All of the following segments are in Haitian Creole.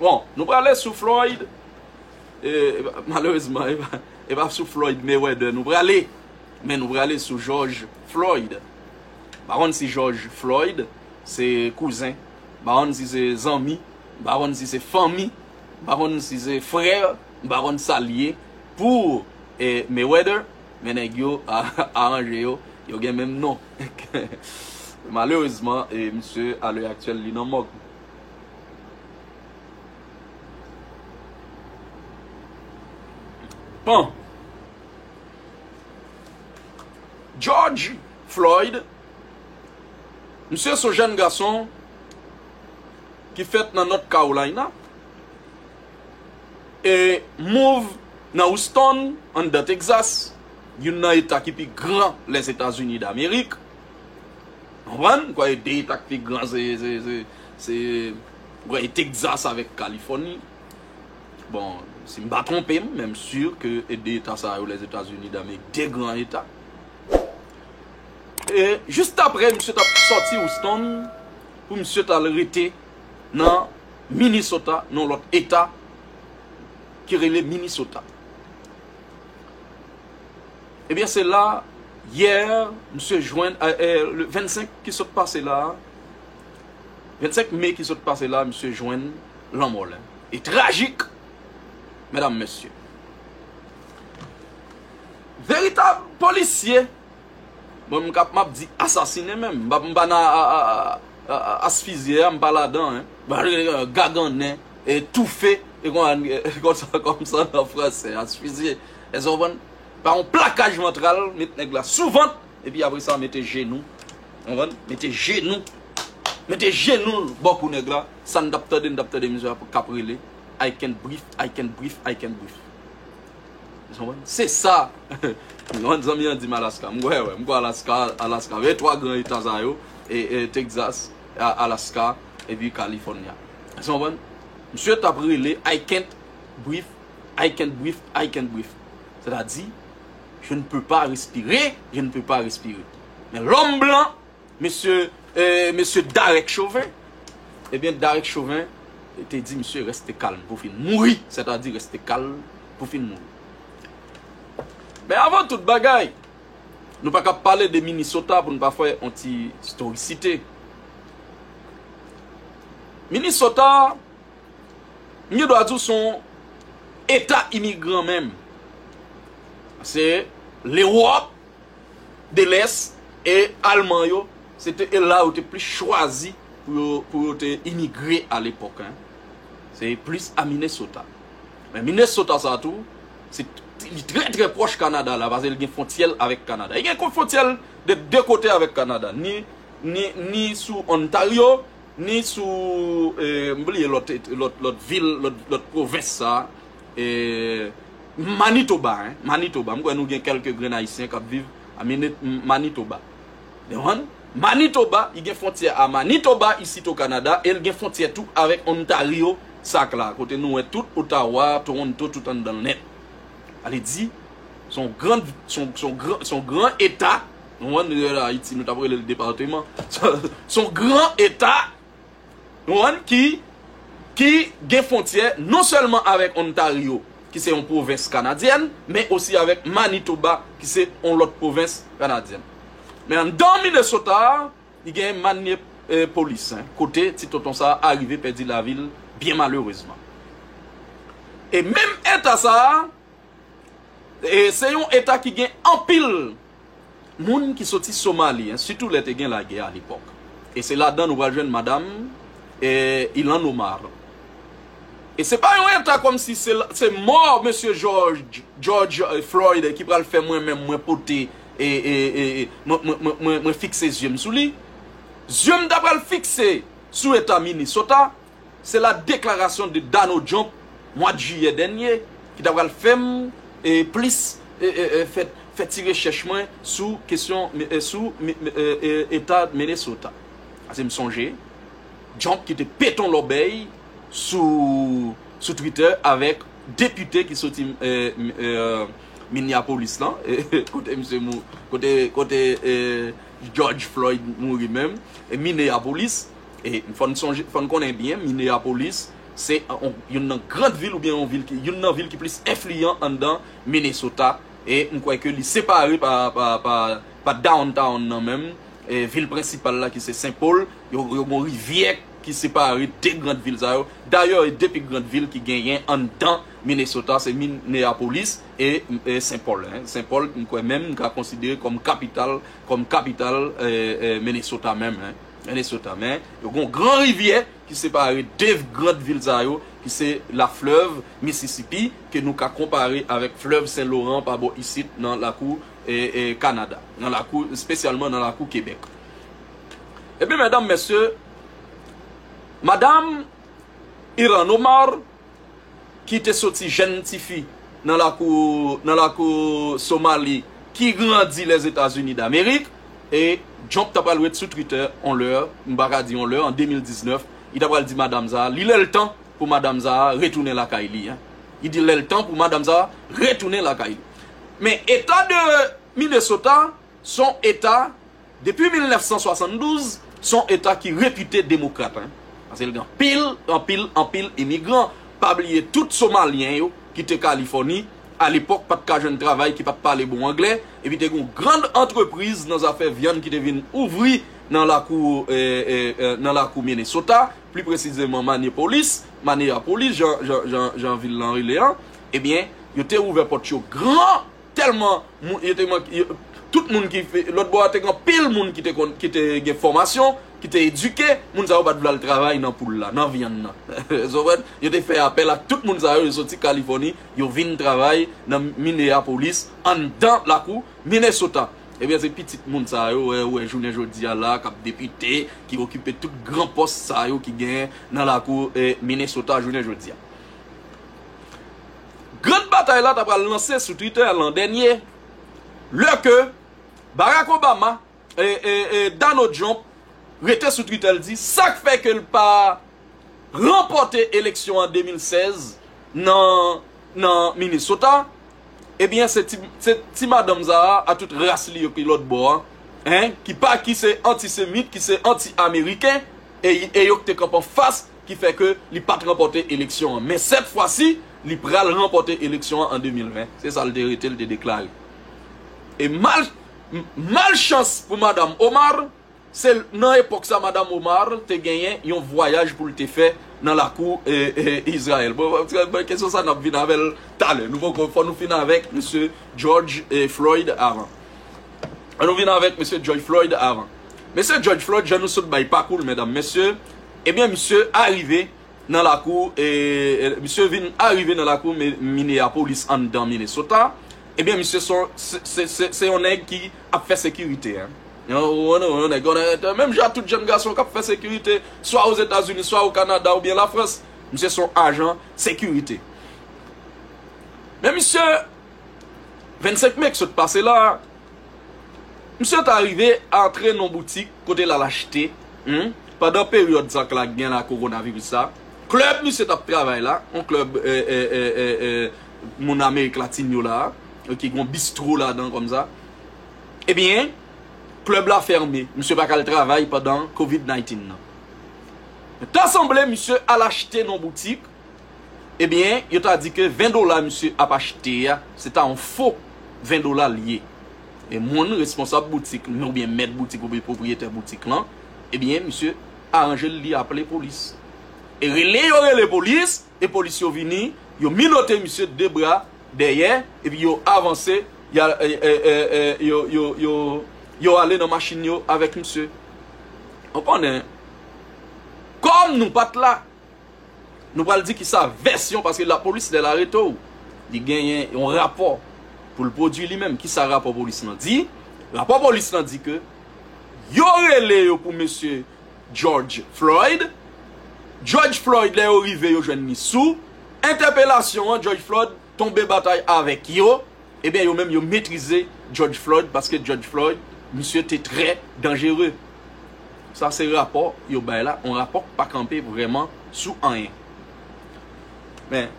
Bon, nou prale sou Floyd, e malerezman e pa sou Floyd Mayweather nou prale, men nou prale sou George Floyd. Ba wonn si George Floyd se kouzen, ba wonn si se zanmi, ba wonn si se fanmi, ba wonn si se frè, ba wonn sa liye pou Mayweather, Men nèg yo aranje yo, yo gen menm non. Malerezman, misye a lè aktyèl li nan mòg. Bon! George Floyd, misye son jèn gason ki fèt nan North Carolina. e mouv nan Houston, anndan Texas, youn nan eta ki pi gran Lèzetazini Damerik. Konprann? M kwè 2 eta ki pi gran se, se, se, se, m kwè e Texas avèk Kalifòni. Bon, si m pa twonpe m, men m si ke e 2 eta sa yo Lèzetazini Damerik, 2 gran eta. E jistapre misye t ap sòti Houston pou misye t al rete nan. Minnesota nan yon lòt eta ki rele Minnesota. Ebyen se la yè misye jwenn, le 25 ki sot pase la, 25 me ki sot pase la misye jwenn lanmò l. E trajik medam mesye. Veritab polisye. Mwen m kap map di asasine menm m pa m pa nan asfizye a m pa ladan hein gagannen e toufe e konsa komsa nan fransè asfizye èske w konprann pa yon plakaj vantral met nèg la sou vant epi apre sa mete jenou konprann mete jenou mete jenou l bò kou nèg la sa n tap tande n tap tande misye kap rele I can breathe I can breathe I can breathe. Se sa yon zanmi an di m Alaska. M kwè wè, m kwè Alaska, Alaska. Veye 3 gran eta sa yo, Texas, Alaska, epi California. Èske nou konprann? Misye t ap rele I can't breathe, I can't breathe, I can't breathe. Sètadi, je ne peux pas respirer, je ne peux pas respirer. Men lòm blan. Mesye eh mesye Darek Chauvin Ebyen Darek Chauvin te di misye reste calme pou fin mouri sètadi reste calme pou fin mouri Men avan tout bagay nou pa ka pale de Minnesota pou nou pa fè yon ti storicite Minnesota m gen dwa di w se yon eta imigran menm se lewòp de lès e alman yo se te e la yo te plis chwazi pou yo te imigre a lepòk se plis a Minnesota men Minnesota sa tou se li trè trè pwòch Kanada la paske li gen fwontyè l avèk Kanada li gen kon fwontyè l de 2 kote avèk Kanada ni sou Ontario ni sou m bliye lòt vil lòt pwovens sa. Eeh Manitoba hein Manitoba m kwè nou gen kelke grenn ayisyen kap viv a minit Manitoba Dewan Manitoba i gen fontyè a Manitoba isit o Kanada el gen fontyè tou avek Ontario sak la kote nou wè tout Ottawa Toronto tout anndanl nèt ale di son grand son son gran son gran eta nou wè nou wè ayiti nou tap relel departement son gran eta. Ron ki ki gen fontyè non sèlman avèk Ontario ki se yon pwovens kanadyèn men osi avèk Manitoba ki se yon lòt pwovens kanadyèn. Men anndan Minnesota a li gen Manniepolis kote ti tonton sa a arive pèdi lavi l byen malerezman. E menm eta sa a se yon eta ki gen anpil moun ki soti Somali, sitou lè te gen lagè a lepòk. E se ladan nou pral jwenn madam Ilhan Omar. E se pa yon eta kòm si se mò mesye George Floyd ki pral fè mwen menm mwen pote, mwen fikse zye m sou li. Zye m ta pral fikse sou eta Minnesota. Se la deklarasyon de Donald Trump mwad jiyè dènye ki ta pral fè m plis fè ti rechèch mwen sou kesyon sou eta Minnesota. Pase m sonje Trump ki te peton lòbèy sou Twitter avèk depite ki soti Minneapolis lan, kote misye mou, kote George Floyd mouri menm, Minneapolis. E fò n sonje, fò n konnen byen Mineyapolis se youn nan grand vil oubyen yon vil ki, youn nan vil ki plis enfliyan anndan Minesota e m kwè ke li separe pa, pa, pa, pa downtown nan menm, vil prensipal la ki se Sen Pol, yo gen yon rivyè ki separe 2 grand vil sa yo. Dayè e 2 pi grand vil ki genyen anndan Minesota se Mineyapolis e Sen Pol. Sen Pol m kwè menm m ka konsidere kòm kapital, kòm kapital Minesota menm. Nan Leso tan men, yo gen yon gran rivyè ki separe 2 grand vil sa yo ki se la flèv Mississippi ke nou ka konpare avèk flèv Sen Loran pa bò isit nan lakou Kanada, nan lakou spesyalman nan lakou Kebèk. Ebyen mèdam mèsye, madam Iran Omar. ki te soti jenn tifi nan lakou nan lakou Somali ki grandi Lèzetazini Damerik e Jhonp ta pral ret sou Twitter on lè, m pa ka di on lè, an 2019, li ta pral di madam sa a li lè l tan pou madam sa a retounen lakay li an. Li di lè l tan pou madam sa a retounen lakay li. Men eta de Minnesota s on eta Depi 1972, se yon eta ki repite demokrat, paske l gen anpil, anpil, anpil imigran, pa bliye tout Somalyen yo ki te Kalifòni, alepòk pa t ka jwenn travay, ki pa t pale bon anglè, epi te gen yon grand antrepriz nan zafè vyann ki te vin ouvri nan lakou, nan lakou Minnesota, pli presizeman Maniepolis, Maneyapolis, jan, jan, jan, jan vil lan rele an, ebyen, yo te ouvè pòt yo gran! Tèlman moun yo te manke tout moun ki lòt bò a te gen anpil moun ki te konn ki te gen fòmasyon ki te edike moun sa yo pat vle al travay nan poul la nan vyann nan konprann yo te fè apèl ak tout moun sa yo yo soti kalifòni yo vin travay nan mineyapolis anndan lakou minesota ebyen se pitit moun sa yo ou wè jounen jodi a la kap depite ki okipe tout gran pòs sa yo ki gen nan lakou minesota jounen jodi a. Grand batay la ta pral lanse sou Twitter lan dènye lè ke Barack Obama Donald Trump rete sou Twitter l di sak fè ke l pa ranpòte eleksyon an 2016 nan Minnesota ebyen se ti madanm sa a tout ras li yo ki lòt bò an ki se anti semit ki se anti ameriken e yo ki te kanpe anfas ki fè ke li pat ranpòte eleksyon an. Men sèt fwa si, li pral ranpòte eleksyon an an 2020, se sa l te rete l te deklare. E mal mal chans pou Madam Omar, se nan epòk sa Madam Omar te genyen yon vwayaj pou l te fè nan lakou Izrayèl. Bon, kesyon sa n ap vin avè l talè. Nou poko, fò nou fin avèk Mesye Jòj Floyd avan. An nou vin avèk Mesye Jòj Floyd avan. Mesye Jòj Floyd, jan nou sot bay pakou l, medam, mesye, Ebyen misye arive nan lakou misye vin arive nan lakou Minneapolis anndan Minnesota ebyen misye son se yon nèg ki ap fè sekirite yon nèg onèt menm jan ak tout jèn gason kap fè sekirite swa ozetazini swa okanada oubyen lafrans misye son ajan sekirite men misye 25 me k sot pase la a. Msye ta rive antre nan yon boutik kote l al achte, humm, pandan peryòd sa k la gen la kowonaviris sa, klèb msye t ap travay la, yon klèb moun amerik latin yo la, ki gen yon bistro ladan kòm sa, ebyen, klèb la fèmen, msye pa ka al travay pandan covid 19 nan. Ta sanble msye al achte nan yon boutik, Ebyen yo ta di ke 20 dola misye ap achte a se ta yon fo 20 dola li ye. E moun responsab boutik nan oubyen mèt boutik oubyen pwopriyetè boutik lan ebyen misye aranje l li aple polis. E rele yo rele polis e polis yo vini yo minote misye de bra dèyè epi yo avanse ya yo ale nan machin yo avèk misye. Ou konnen kòm nou pat la. Nou pral di kisa vèsyon paske lapolis lè l arete w li genyen yon rapò pou l pwodui li menm. Kisa rapò polis lan di? Rapò polis lan di ke yo rele yo pou mesye George Floyd. George Floyd lè yo rive yo jwenn li sou entèpelasyon an George Floyd. tonbe batay avèk yo, ebyen yo menm yo metrize Judge Floyd paske Judge Floyd misye te trè danjere. Sa se rapò yo bay la, yon rapò ki pa kanpe vrèman sou anyen. Men,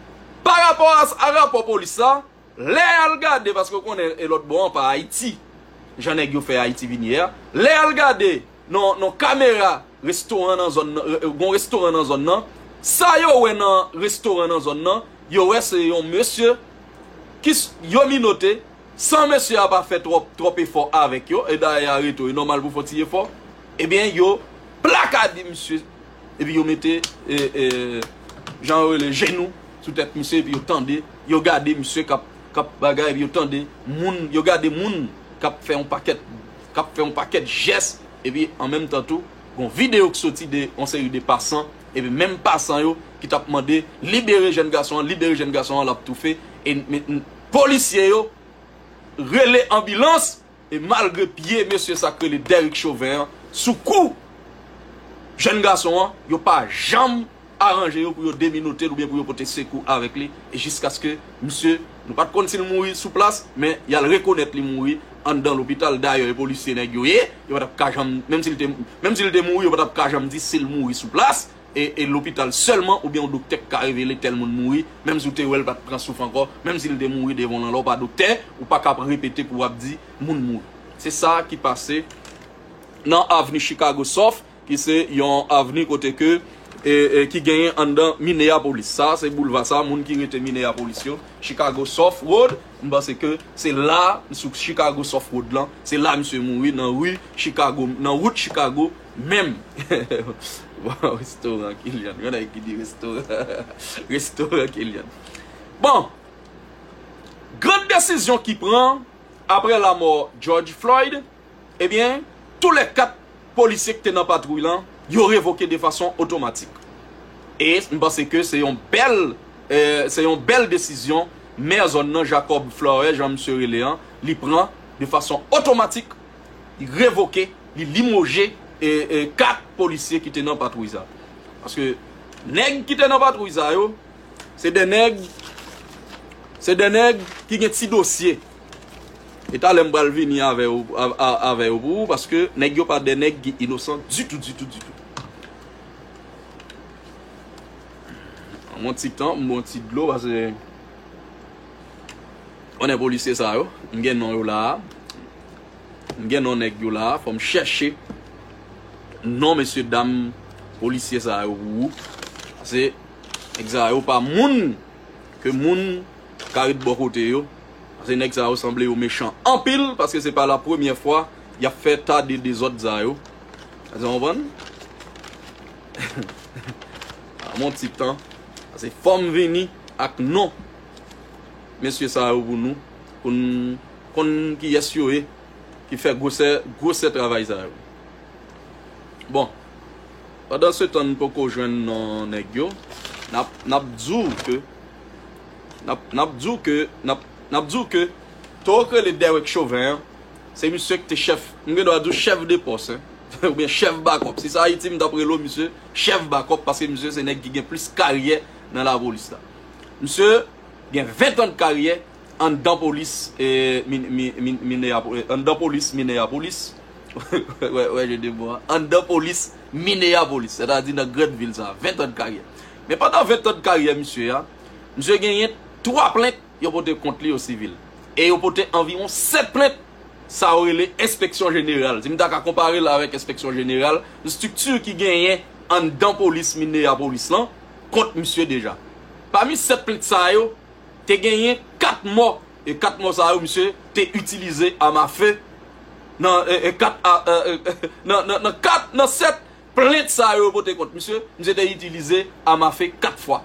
pa rapò a rapò polis la, lè y al gade, paske ou konnen e lòt bò an pa Ayiti, jan nèg yo fè Ayiti vin ye a, lè y al gade, Nan nan kamera restoran nan zòn nan gon restoran nan zòn nan sa yo wè nan restoran nan zòn nan yo wè se yon mesye ki yo minote san mesye a pa fè twòp twòp efò avèk yo e dayè areto e nòmal pou fon ti efò ebyen yo plakade misye epi yo mete jan yo rele jenou sou tèt misye epi yo tande yo gade misye kap kap bagay epi yo tande moun yo gade moun kap fè yon pakèt k ap fè yon pakèt jès epi an menm tan tou gon videyo k soti de yon seri de pasan epi menm pasan yo ki t ap mande libere jèn gason an libere jèn gason an l ap toufe e polisye yo rele anbilans e malgre pye mesye sa k rele Derrick Chauvin an sou kou jèn gason an yo pa janm aranje yo pou yo deminote l oubyen pou yo pote sekou avèk li jiskaske misye, nou pa t konn si l mouri sou plas, men y al rekonèt li mouri anndan lopital. Dayè e polisye nèg yo ye, yo pa t ap ka janm, menm si l te, menm si l te mouri yo pa t ap ka janm di si l mouri sou plas e e lopital sèlman oubyen yon doktè k ka revele tèl moun mouri, menm si w te wè l pa t pran souf ankò, menm si l te mouri devan w lan lè w pa doktè ou pa ka ap repete pou w ap di moun mouri. Se sa ki pase nan avni Chicago sof Ki se yon avni kote ke ki genyen anndan Minneapolis. Sa se boulva sa moun ki rete Minneapolis yo, Chicago South Road, m panse ke se la sou Chicago South Road lan, se la misye mouri nan rue Chicago, nan wout Chicago menm. Bon, restoran Killian. Yon nèg ki di restoran restoran Killian. Bon, gran desizyon ki pran aprè lamò George Floyd. Ebyen, tou lè 4 polisye ki te nan patwouy lan, yo revoke de fason otomatik. E m panse ke se yon bèl se yon bèl desizyon mè zòn nan Jacob Flourès jan misye rele an, li pran de fason otomatik, li revoke, li limoje 4 polisye ki te nan patwouy sa. Paske nèg ki te nan patwouy sa yo, se de nèg se de nèg ki gen ti dosye. E talè m pral vini avè yo pou ou paske nèg yo pa de nèg ki inosan ditou ditou ditou. Banm yon ti tan m bwè yon ti dlo pase konnen polisye sa yo m gen non yo la a m gen non nèg yo la a fò m chèche non mesye dam polisye sa yo pou ou pase nèg sa yo pa moun ke moun ka ret bò kote yo paske nèg sa yo sanble yo mechan anpil paske se pa la premyè fwa y ap fè ta de dezòd sa yo èske nou konprann ban m yon ti tan paske fò m vini ak non mesye sa yo pou nou pou n konn kiyès yo ye ki fè gwosè gwosè travay sa yo bon pandan se tan n poko jwenn non nèg yo n ap di w ke N ap di w ke, n ap di w ke toro k rele Derek Chauvin an, se misye k te chèf, m gen dwa di w chèf de pòs, oubyen chèf bakòp. Si se Ayiti m t ap rele w misye chèf bakòp paske misye se nèg ki gen plis karyè nan lapolis la. Misye gen 20 tan de karyè anndan polis Mineyapolis, wè je de mo a, anndan polis Mineyapolis, sètadi nan grand vil sa a, 20 tan de karyè. Men pandan 20 tan de karyè misye a, misye genyen 3 plent yo pote kont li yo sivil. E yo pote anviwon 7 plent sa yo rele enspeksyon jeneral. Si m ta ka konpare l avèk enspeksyon jeneral, yon estrikti ki genyen anndan polis Mineyapolis lan kont misye deja. Pami 7 plent sa yo, te genyen 4 mò. E 4 mò sa yo misye te itilize àm afe nan 4 nan 7 Plent sa yo pote kont misye, misye te itilize am afe 4 fwa.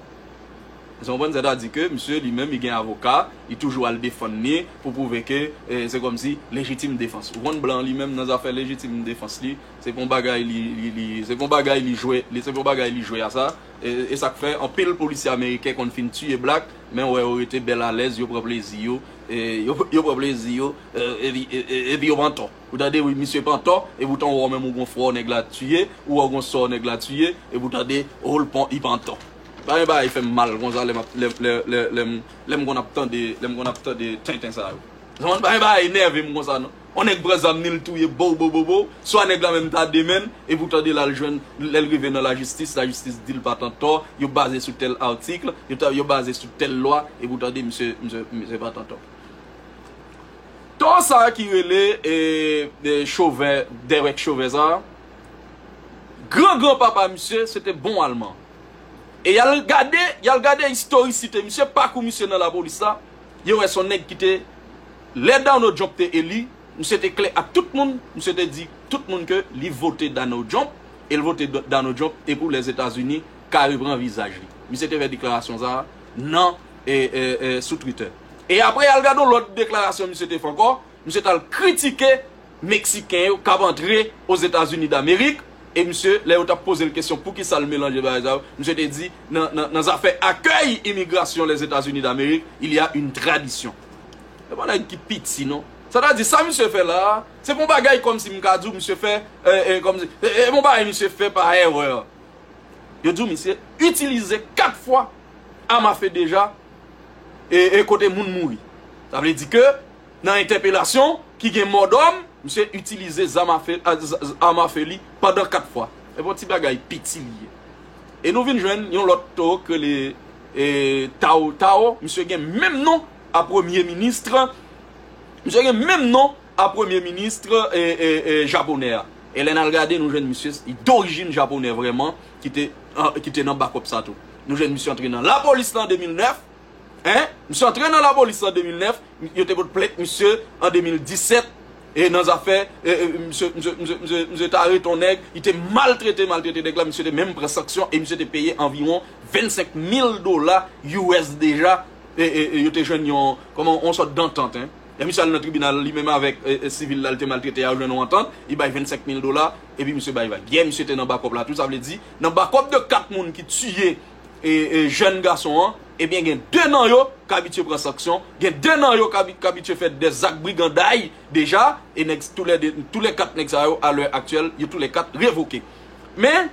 Èske nou konprann? Sètadi ke misye li menm li gen avoka, li toujou al defann li pou pwouve ke se kòmsi lejitim defans. Ou konn blan li menm nan zafè lejitim defans li, se pa yon bagay li, li, se pa yon bagay li jwe, li, se pa yon bagay li jwe a sa. E sa k fè anpil polisye ameriken konn fin tiye blak, men wè yo rete bèl alèz, yo pran plezi yo, yo pran plezi yo, epi, epi yo pran tò. Ou tande wi misye pran tò e poutan ou wè ou menm ou gon frè w nèg la tiye, ou wè ou gon sè w nèg la tiye e pou tande ohl pon i pran tò. Konbyen bagay fèm mal konsa lè map lè lè lè lèm lèm konn ap tande lèm konn ap tande tenten sa yo. Zanmann konbyen bagay nève m konsa non. On nèg pran zam ni l touye bowbowbowbow, swa nèg la menm ta demen l e pou tande lal jwenn lè l rive nan lajistis lajistis di l pat an tò yo baze sou tèl article yo ta yo baze sou tèl lwa e pou tande misye misye misye pat an tò. Tò sa ki rele Chauvin Derek Chauvin sa Gran gran papa misye se te bon alman E yal gade yal gade istorisite misye pakou misye nan lapolis la Yo wè son nèg ki te Lè Donald Trump te eli misye te klè ak tout moun misye te di tout moun ke li vote Donald Trump El vote Donald Trump e pou Lèzetazini ka repran vizaj li Misye te fè deklarasyon sa nan sou Twitter. E apre al gad yon lòt deklarasyon misye te fè ankò, misye t al kritike Meksiken yo k ap antre Ozetazini Damerik e misye lè yo t ap poze l kesyon poukisa l melanje bagay sa yo, misye te di nan zafè akèy imigrasyon Lèzetazini Damerik il y a une tradition. Se pa nèg ki piti non. Sètadi sa misye fè la a, se pa yon bagay kòmsi m ka di w misye fè kòmsi, se pa yon bagay misye fè pa erreur. Yo di w misye itilize 4 fwa Amafe deja e kote moun mouri. Sa vle di ke nan entèpelasyon ki gen mò dòm, misye itilize zam afe li pandan 4 fwa. Epi yon ti bagay piti li ye. E nou vin jwenn yon lòt to k rele Tao Tao, misye gen menm non a premye ministre, misye gen menm non a premye ministre japonè a. E lè n al gade nou jwenn misye d'orijin japonè vrèman. ki te nan bakop sa tou. Nou jwenn misye antre nan lapolis lan 2009, en, misye antre nan lapolis lan 2009, yo te pot plent misye an 2017, e nan zafè, e, e, misye, misye, misye, misye, misye te arete yon nèg, li te maltrete, maltrete nèg la, misye te menm pran sanksyon, e misye te peye anviwon 25 mil dola US deja, e, e, e, yo te jwenn yon, kòman, yon sòt dantant, en. Lè misye al nan tribinal, li menm avèk, e, e, sivil la li te maltrete a, yo jwenn yon antant, li bay 25 mil dola, Epi misye bay vag. Yeah misye te nan bakòp la tou sa vle di nan bakòp de 4 moun ki tiye jèn gason an ebyen gen 2 nan yo k abitye pran sanksyon gen 2 nan yo k abitye fè dè zak briganday deja e nèg tou lè 2 tou lè 4 nèg sa yo a lè aktyèl yo tou lè 4 revoke men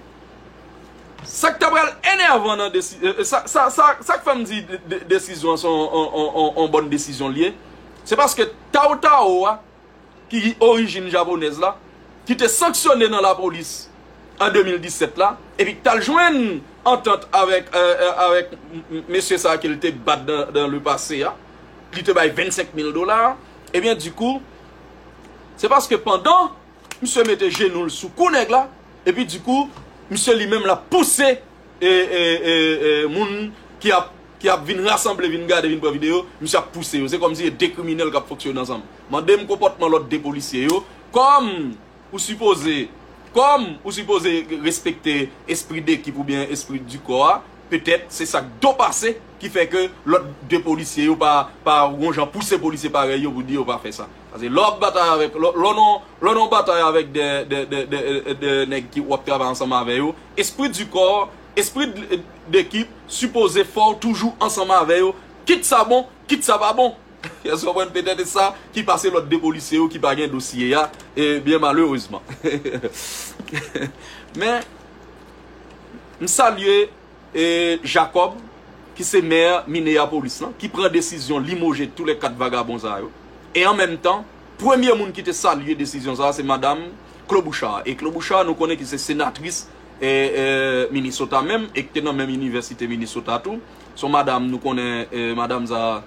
sa k ta pral enèvan nan desi sa sa sa sa k fè m di desizyon an se yon yon yon yon bòn desizyon l ye se paske tawo tawo a ki gen orijin japonèz la, ki te sanksyone nan lapolis an 2017 la, epi ki t al jwenn antant avèk mesye sa ke l te bat nan le pase a, li te bay 25 mil dola, ebyen di kou, se paske pandan misye mete jenou l sou kou nèg la, epi di kou, misye li menm l ap pouse moun ki ap ki ap vin rasanble vin gade vin pran video misye ap pouse yo se kòmsi se 2 kriminèl kap fonksyone ansanm mandem konpòtman lòt 2 polisye yo kòm ou sipoze kòm ou sipoze respekte espri dekip oubyen espri di kò a petèt se sak do pase ki fè ke lòt 2 polisye yo pa pa gon jan pouse polisye parèy yo pou di yo pa fè sa. Paske lè w ap batay avèk, lè w nan yon batay avèk de nèg ki w ap travay ansanm avè yo, espri di kò, espri dekip, sipoze fò w toujou ansanm avè yo, kit sa bon, kit sa pa bon. Èske w konprann? Petèt se sa ki pase lòt 2 polisye yo ki pa gen dosye a, byen malerezman. Men, m salye. Jacob ki se maire Minneapolis lan ki pran desizyon limoje tou lè 4 vagabon sa yo e an menm tan premye moun ki te salye desizyon sa se madam Klobuchar e Klobuchar nou konnen ki se senatris Minnesota menm e ki te nan menm inivèsite Minnesota tou son madam nou konnen madam sa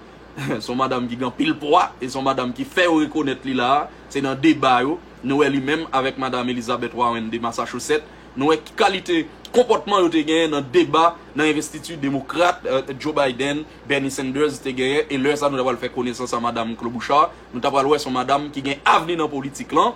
son madam ki gen anpil pwa e son madam ki fè yo rekonèt li la se nan deba yo nou wè li menm avèk madam Elizabeth Warren de Massachusetts. Nou wè ki kalite konpòtman yo te genyen nan deba nan envestiti Demokrat Joe Biden, Bernie Sanders te genyen e lè sa nou ta pral fè konesans a Madam Klobuchar, nou ta pral wè son Madam ki gen avni nan politik lan,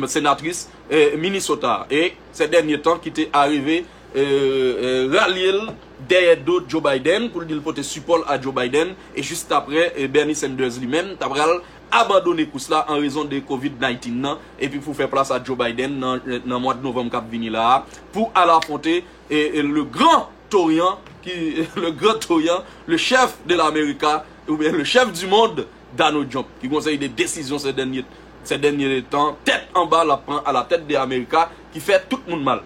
Senatris Minnesota e sè dènye tan ki te arive ralye l dèyè do Joe Biden pou l di l pote sipò l a Joe Biden e jistapre Bernie Sanders li menm ta pral abandone kous la an rezon de Covid 19 nan epi pou fè plas a Joe Biden nan mwad novanm kap vini la a pou al afwonte le gran toryan ki le gran toryan le chèf de la Amerika oubyen le chèf di mond Donald Trump ki gon seri de desizyon sè dènye sè dènye tan tèt anba lap pran a la tèt de Amerika ki fè tout moun mal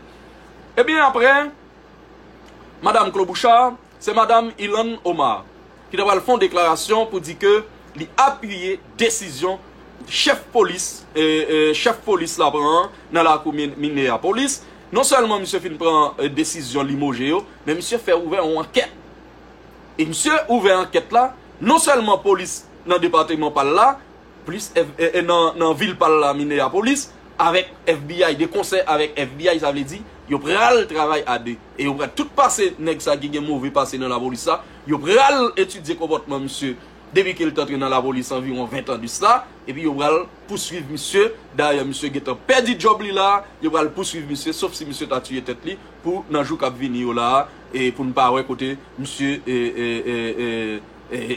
ebyen aprè madam Klobouchar Se Madam Ilhan Omar ki ta pral fè yon deklarasyon pou di ke li apiye desizyon chèf polis chèf polis la pran an nan lakou Minneapolis. Non sèlman misye fin pran desizyon limoje yo, men misye fè ouvè yon ankèt. E misye ouvè ankèt la, non sèlman polis nan depateman pa l la, plis nan vil pal la Minneapolis avèk FBI de konsè avèk FBI sa vle di yo pral travay a 2 e yo pral tout pase nèg sa ki gen move pase nan lapolis sa yo pral etidye konpòtman misye depi ke li t antre nan lapolis anviwon 20 tan de sa epi yo pral pouswiv misye dayè misye gentan pèdi djòb li la yo pral pouswiv misye sof si misye ta tiye tèt li pou nan jou kap vini yo la e pou n pa wè kote misye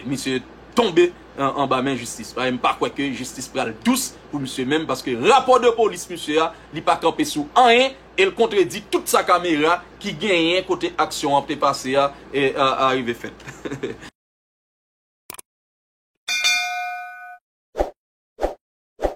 misye tonbe. anba men jistis paske m pa kwè ke jistis pral dous pou misye menm paske rapò de polis misye a li pa kanpe sou anyen e l kontredi tout sa kamera ki genyen kote aksyon an te pase a arive fèt.